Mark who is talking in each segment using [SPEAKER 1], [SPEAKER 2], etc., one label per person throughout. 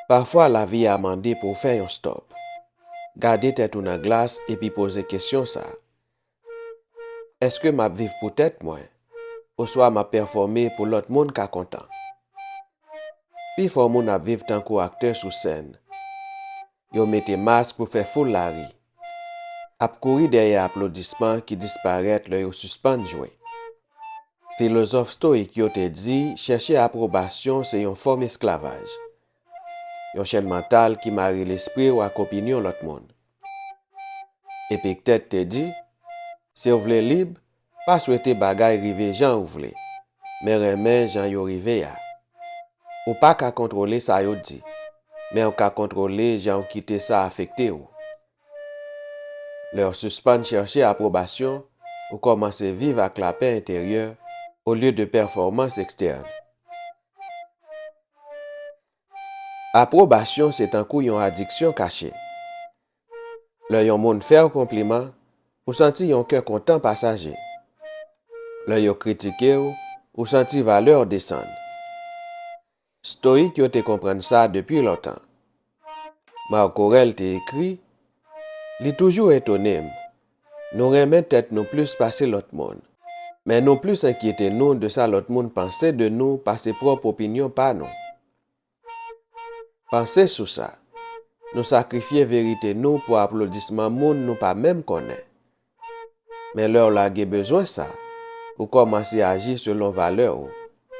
[SPEAKER 1] Pafwa lavi a mande pou w fè yon stòp. Gade tèt ou nan glas epi poze kesyon sa, Èske m ap viv pou tèt mwen oswa m ap pèfòme pou lòt moun ka kontan? Pifò moun ap viv tankou aktè sou sèn. Yo mete mask pou fè foul la ri. Ap kouri dèyè aplodisman ki disparèt lè yo sispann jwe. Filozòf stoyik yo te di chèche apwobasyon se yon fòm esklavaj, yon chèn mantal ki mare lespri w ak opinyon lòt moun. Epiktèt te di, Si w vle lib, Pa swete bagay rive jan ou vle, men renmen jan yo rive a. Ou pa ka kontwole sa yo di, men ou ka kontwole jan ou kite sa afekte ou. Lè ou sispann chèche apwobasyon, ou kòmanse viv ak lapè enteryè olye de pèfòmans ekstèn. Apwobasyon se tankou yon adiksyon kache. Lè yon moun fè w konpliman, ou santi yon kè kontan pasaje. Lè yo kritike w, ou santi valè w desann. Stoyik yo te konprann sa depi lontan. Marc Aurèle te ekri, Li toujou etone m, nou renmen tèt nou plis pase lòt moun, men nou plis enkyete nou de sa lòt moun panse de nou pase pwòp opinyon pa nou. Panse sou sa. Nou sakrifye verite nou pou aplodisman moun nou pa menm konnen. Men lè w lage bezwen sa, ou kòmanse aji selon valè ou,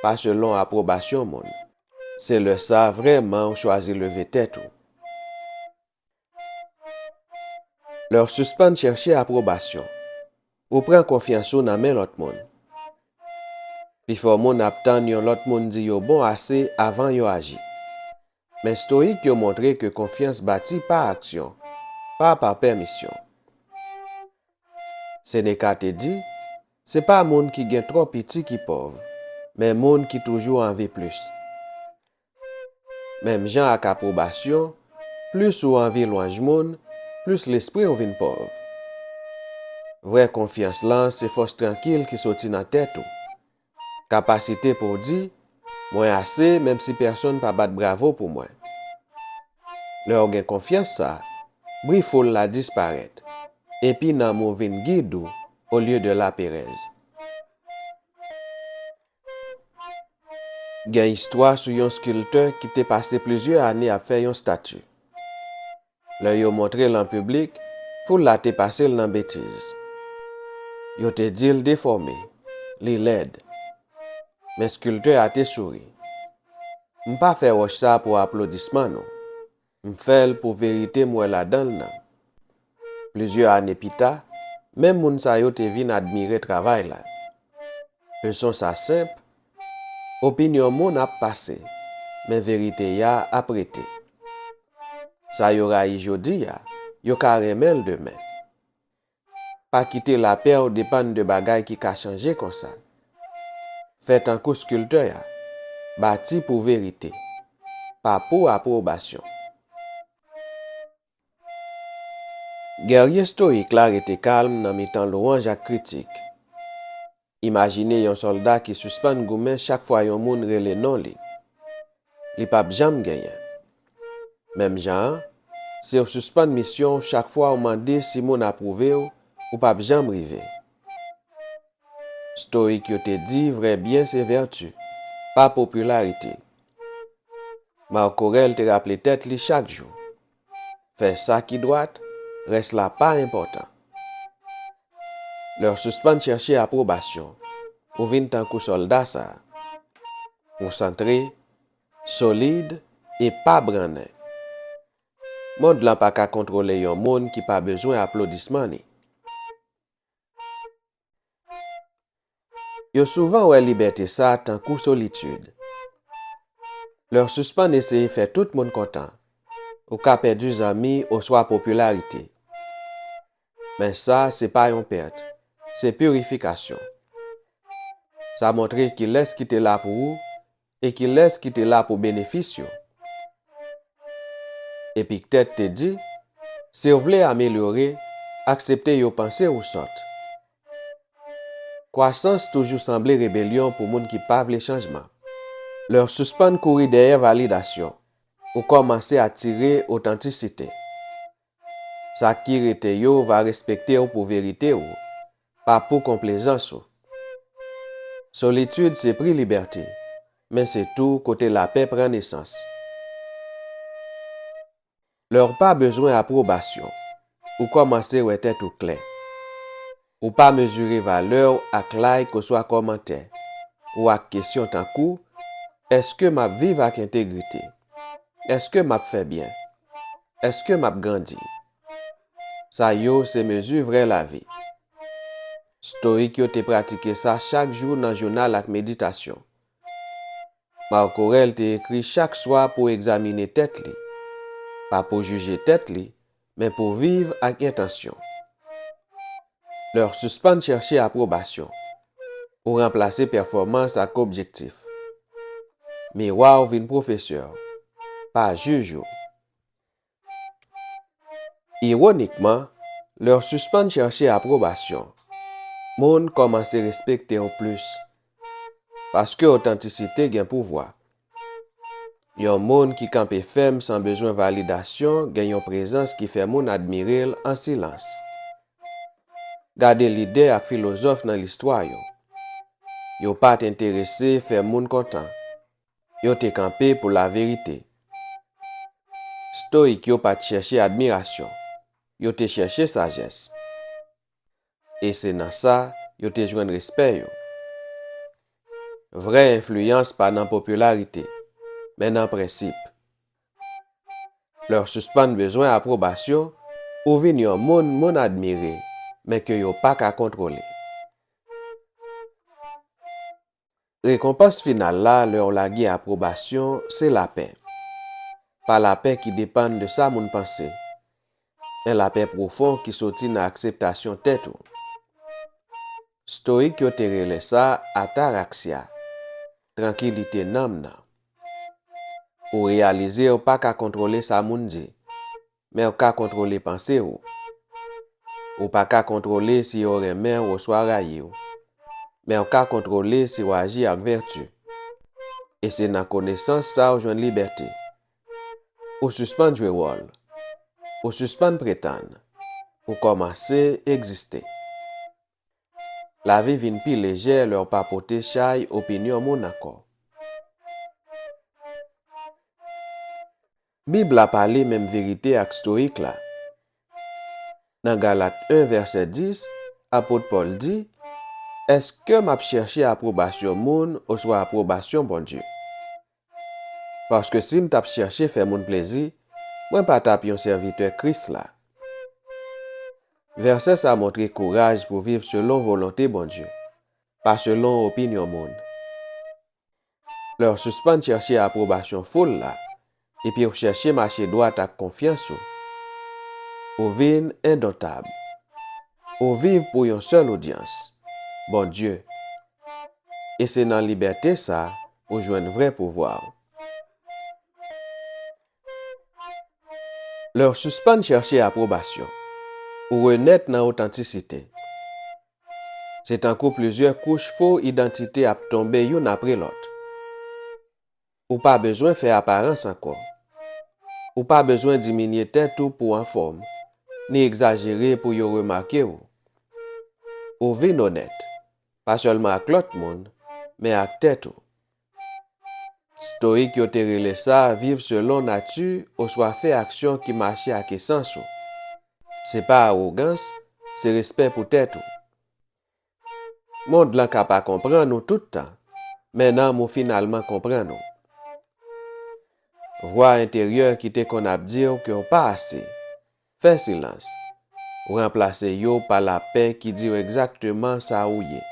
[SPEAKER 1] pa selon apwobasyon moun. Se lè sa vrèman ou chwazi leve tèt ou. Lè w sispann chèche apwobasyon, ou pran konfyans ou nan men lòt moun. Pifò moun ap tann yon lòt moun di yo bon ase avan yo aji. Men Stoyik yo montre ke konfyans bati pa aksyon, pa pa pèmisyon. Seneka te di, Se pa moun ki gen twò piti ki pòv, men moun ki toujou anvi plis. Menm jan ak apwobasyon, plis ou anvi lwanj moun, plis lespri w vin pòv. Vrè konfyans lan se fòs trankil ki soti nan tèt ou. Kapasite pou w di, Mwen ase menm si pèsonn pa bat bravo pou mwen. Lè w gen konfyans sa, bri foul la disparèt, epi nanm ou vin gid ou olye de laperèz. Gen istwa sou yon skiltè ki te pase plizyè ane ap fè yon stati. Lè yo montre l an piblik, foul la te pase l nan betiz. Yo te di l defòme, li lèd. Men skiltè a te souri. M pa fè wòch sa pou aplodisman nou. M fèl pou verite m wè ladanl nan. Plizyè ane pita, menm moun sa yo te vin admire travay la. Leson sa senp, Opinyon moun ap pase, men verite ya ap rete. Sa yo rayi jodi a, yo ka renmen l demen. Pa kite lapè w depann de bagay ki ka chanje konsa. Fè tankou skiltè a, bati pou verite, pa pou apwobasyon. Gèrye stoyik la rete kalm nan mitan lwanj ak kritik. Imajine yon sòlda ki sispann goumen chak fwa yon moun rele non li. Li pap janm genyen. Menm jan an, si w sispann misyon w chak fwa w mande si moun apwouve w, ou pap janm rive. Stoik yo te di vrè byen se vèti, pa popilarite. Marc Aurèle te raple tèt li chak jou, Fè sa ki dwat, rès la pa enpòtan. Lè w sispann chèche apwobasyon, ou vin tankou sòlda sa a, konsantre, solid e pa brannen. Mond lan pa ka kontwole yon moun ki pa bezwen aplodisman li. Yo souvan wè libète sa tankou solitid. Lè w sispann eseye fè tout moun kontan, ou ka pèdi zanmi oswa popilarite. Men sa se pa yon pèt, se pirifikasyon. Sa montre kilès ki te la pou ou E kilès ki te la pou benefis yo? Epiktèt te di, Si w vle amelyore, aksepte yo panse ou sòt. Kwasans toujou sanble rebelyon pou moun ki pa vle chanjman. Lè w sispann kouri dèyè validasyon, ou kòmanse atire otantisite. Sa ki rete yo va respekte w pou verite ou, pa pou konplezans ou. Solitid se pri libète, men se tou kote lapè pran nesans. Lè w pa bezwen apwobasyon, ou kòmanse wè tèt ou klè. Ou pa mezire valè w ak like oswa kòmantè ou ak kesyon tankou, Èske m ap viv ak entegrite? Èske m ap fè byen? Èske m ap grandi? Sa yo se mezi vrè lavi. Stoyik yo te pratike sa chak jou nan jounal ak meditasyon. Marc Aurèle te ekri chak swa pou egzamine tèt li, pa pou jije tèt li, Men pou viv ak entansyon. Lè w sispann chèche apwobasyon, ou ranplase pèfòmans ak objektif. Miwa w vin pwofesè w, pa jij ou. Iwonikman, lè w sispann chèche apwobasyon, moun kòmanse respekte w plis Paske otantisite gen pouvwa. Yon moun ki kanpe fèm san bezwen validasyon gen yon prezans ki fè moun admire l an silans. Gade lidè ak filozòf nan listwa yo. Yo pa t enterese fè moun kontan. Yo te kanpe pou laverite. Stoyik yo pa t chèche admirasyon. Yo te chèche sajès. e se nan sa yo te jwenn respè yo. Vrè enfliyans pa nan popilarite, men nan prensip. Lè w sispann bezwen apwobasyon, ou vin yon moun moun admire men ke yo pa ka kontwole. Rekonpans final la lè w lage apwobasyon se lapè. Pa lapè ki depann de sa moun panse, men lapè pwofon ki soti nan akseptasyon tèt ou. Stoyik yo te rele sa ataraxia, trankilite nanm nan. Ou reyalize w pa ka kontwole sa moun di, Men w ka kontwole panse w. Ou pa ka kontwole si yo renmen w oswa rayi w. Men w ka kontwole si w aji ak vèti. E se nan konesans sa w jwenn libète. Ou sispann jwe wòl. Ou sispann pretann. Ou kòmanse egziste. Lavi vin pi lejè lè w pa pote chay opinyon moun ankò. Bib la pale menm verite ak stoyik la. Nan Galat 1 vèsè 10, apot Pòl di, Èske m ap chèche apwobasyon moun oswa apwobasyon Bondye? Paske si m t ap chèche fè moun plezi, mwen pa t ap yon sèvitè Kris la. Vèsè sa montre kouraj pou viv selon volonte Bondye, pa selon opinyon moun. Lè w sispann chèche apwobasyon foul la epi w chèche mache dwat ak konfyans ou, ou vin endontab. Ou viv pou yon sèl odyans, Bondye. e se nan libète sa ou jwenn vrè pouvwa ou. Lè ou sispann chèche apwobasyon, ou renèt nan otantisite. Se tankou plizyè kouch fo idantite ap tonbe youn apre lòt. Ou pa bezwen fè aparans ankò. Ou pa bezwen diminye tèt ou pou w anfòm, ni egzajere pou yo remake w. Ou vin onèt, pa sèlman ak lòt moun, men ak tèt ou. Stoyik yo te rele sa viv selon nati oswa fè aksyon ki mache ak esans ou. Se pa awogans, se respè pou tèt ou. Mond lan ka pa konprann ou tout tan, men nanm ou finalman konprann ou. Vwa enteryè ki te konn ap di w ke w pa ase, fè silans, ou ranplase yo pa lapè ki di w egzakteman sa ou ye.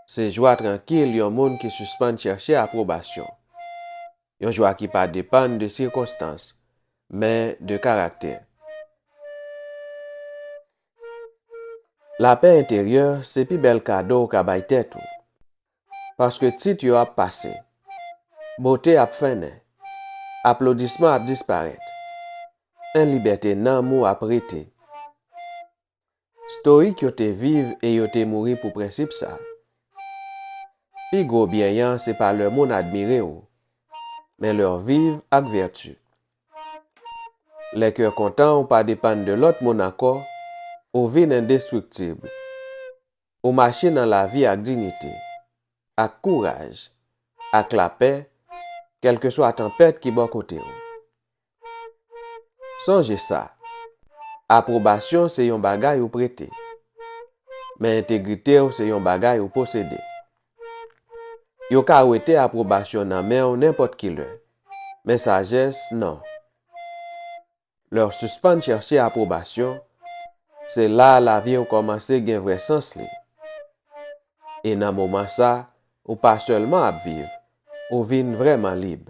[SPEAKER 1] Se jwa trankil yon moun ki sispann chèche apwobasyon. Yon jwa ki pa depann de sikonstans, men de karaktè. Lapè enteryè se pi bèl kado ou ka bay tèt ou. Paske tit yo ap pase. Bote ap fennen. Aplodisman ap disparèt. En libète nanm ou ap rete. Stoik yo te viv e yo te mouri pou prensip sa. Pi gwo byen an se pa lè moun admire ou, men lè w viv ak vèti. Lè kè kontan ou pa depann de lòt moun ankò, ou vin endestriktib. Ou mache nan lavi ak dignite, ak kouraj, ak lapè, kèlkeswa tanpèt ki bò kote ou. Sonje sa, apwobasyon se yon bagay ou prete, men entegrite ou se yon bagay ou posede. Yo ka wete apwobasyon nan men w nenpòt ki lè, men sajès non. Lè w sispann chèche apwobasyon, se la a lavi w kòmanse gen vrè sans li. E nan moman sa, ou pa sèlman ap viv, ou vin vrèman lib.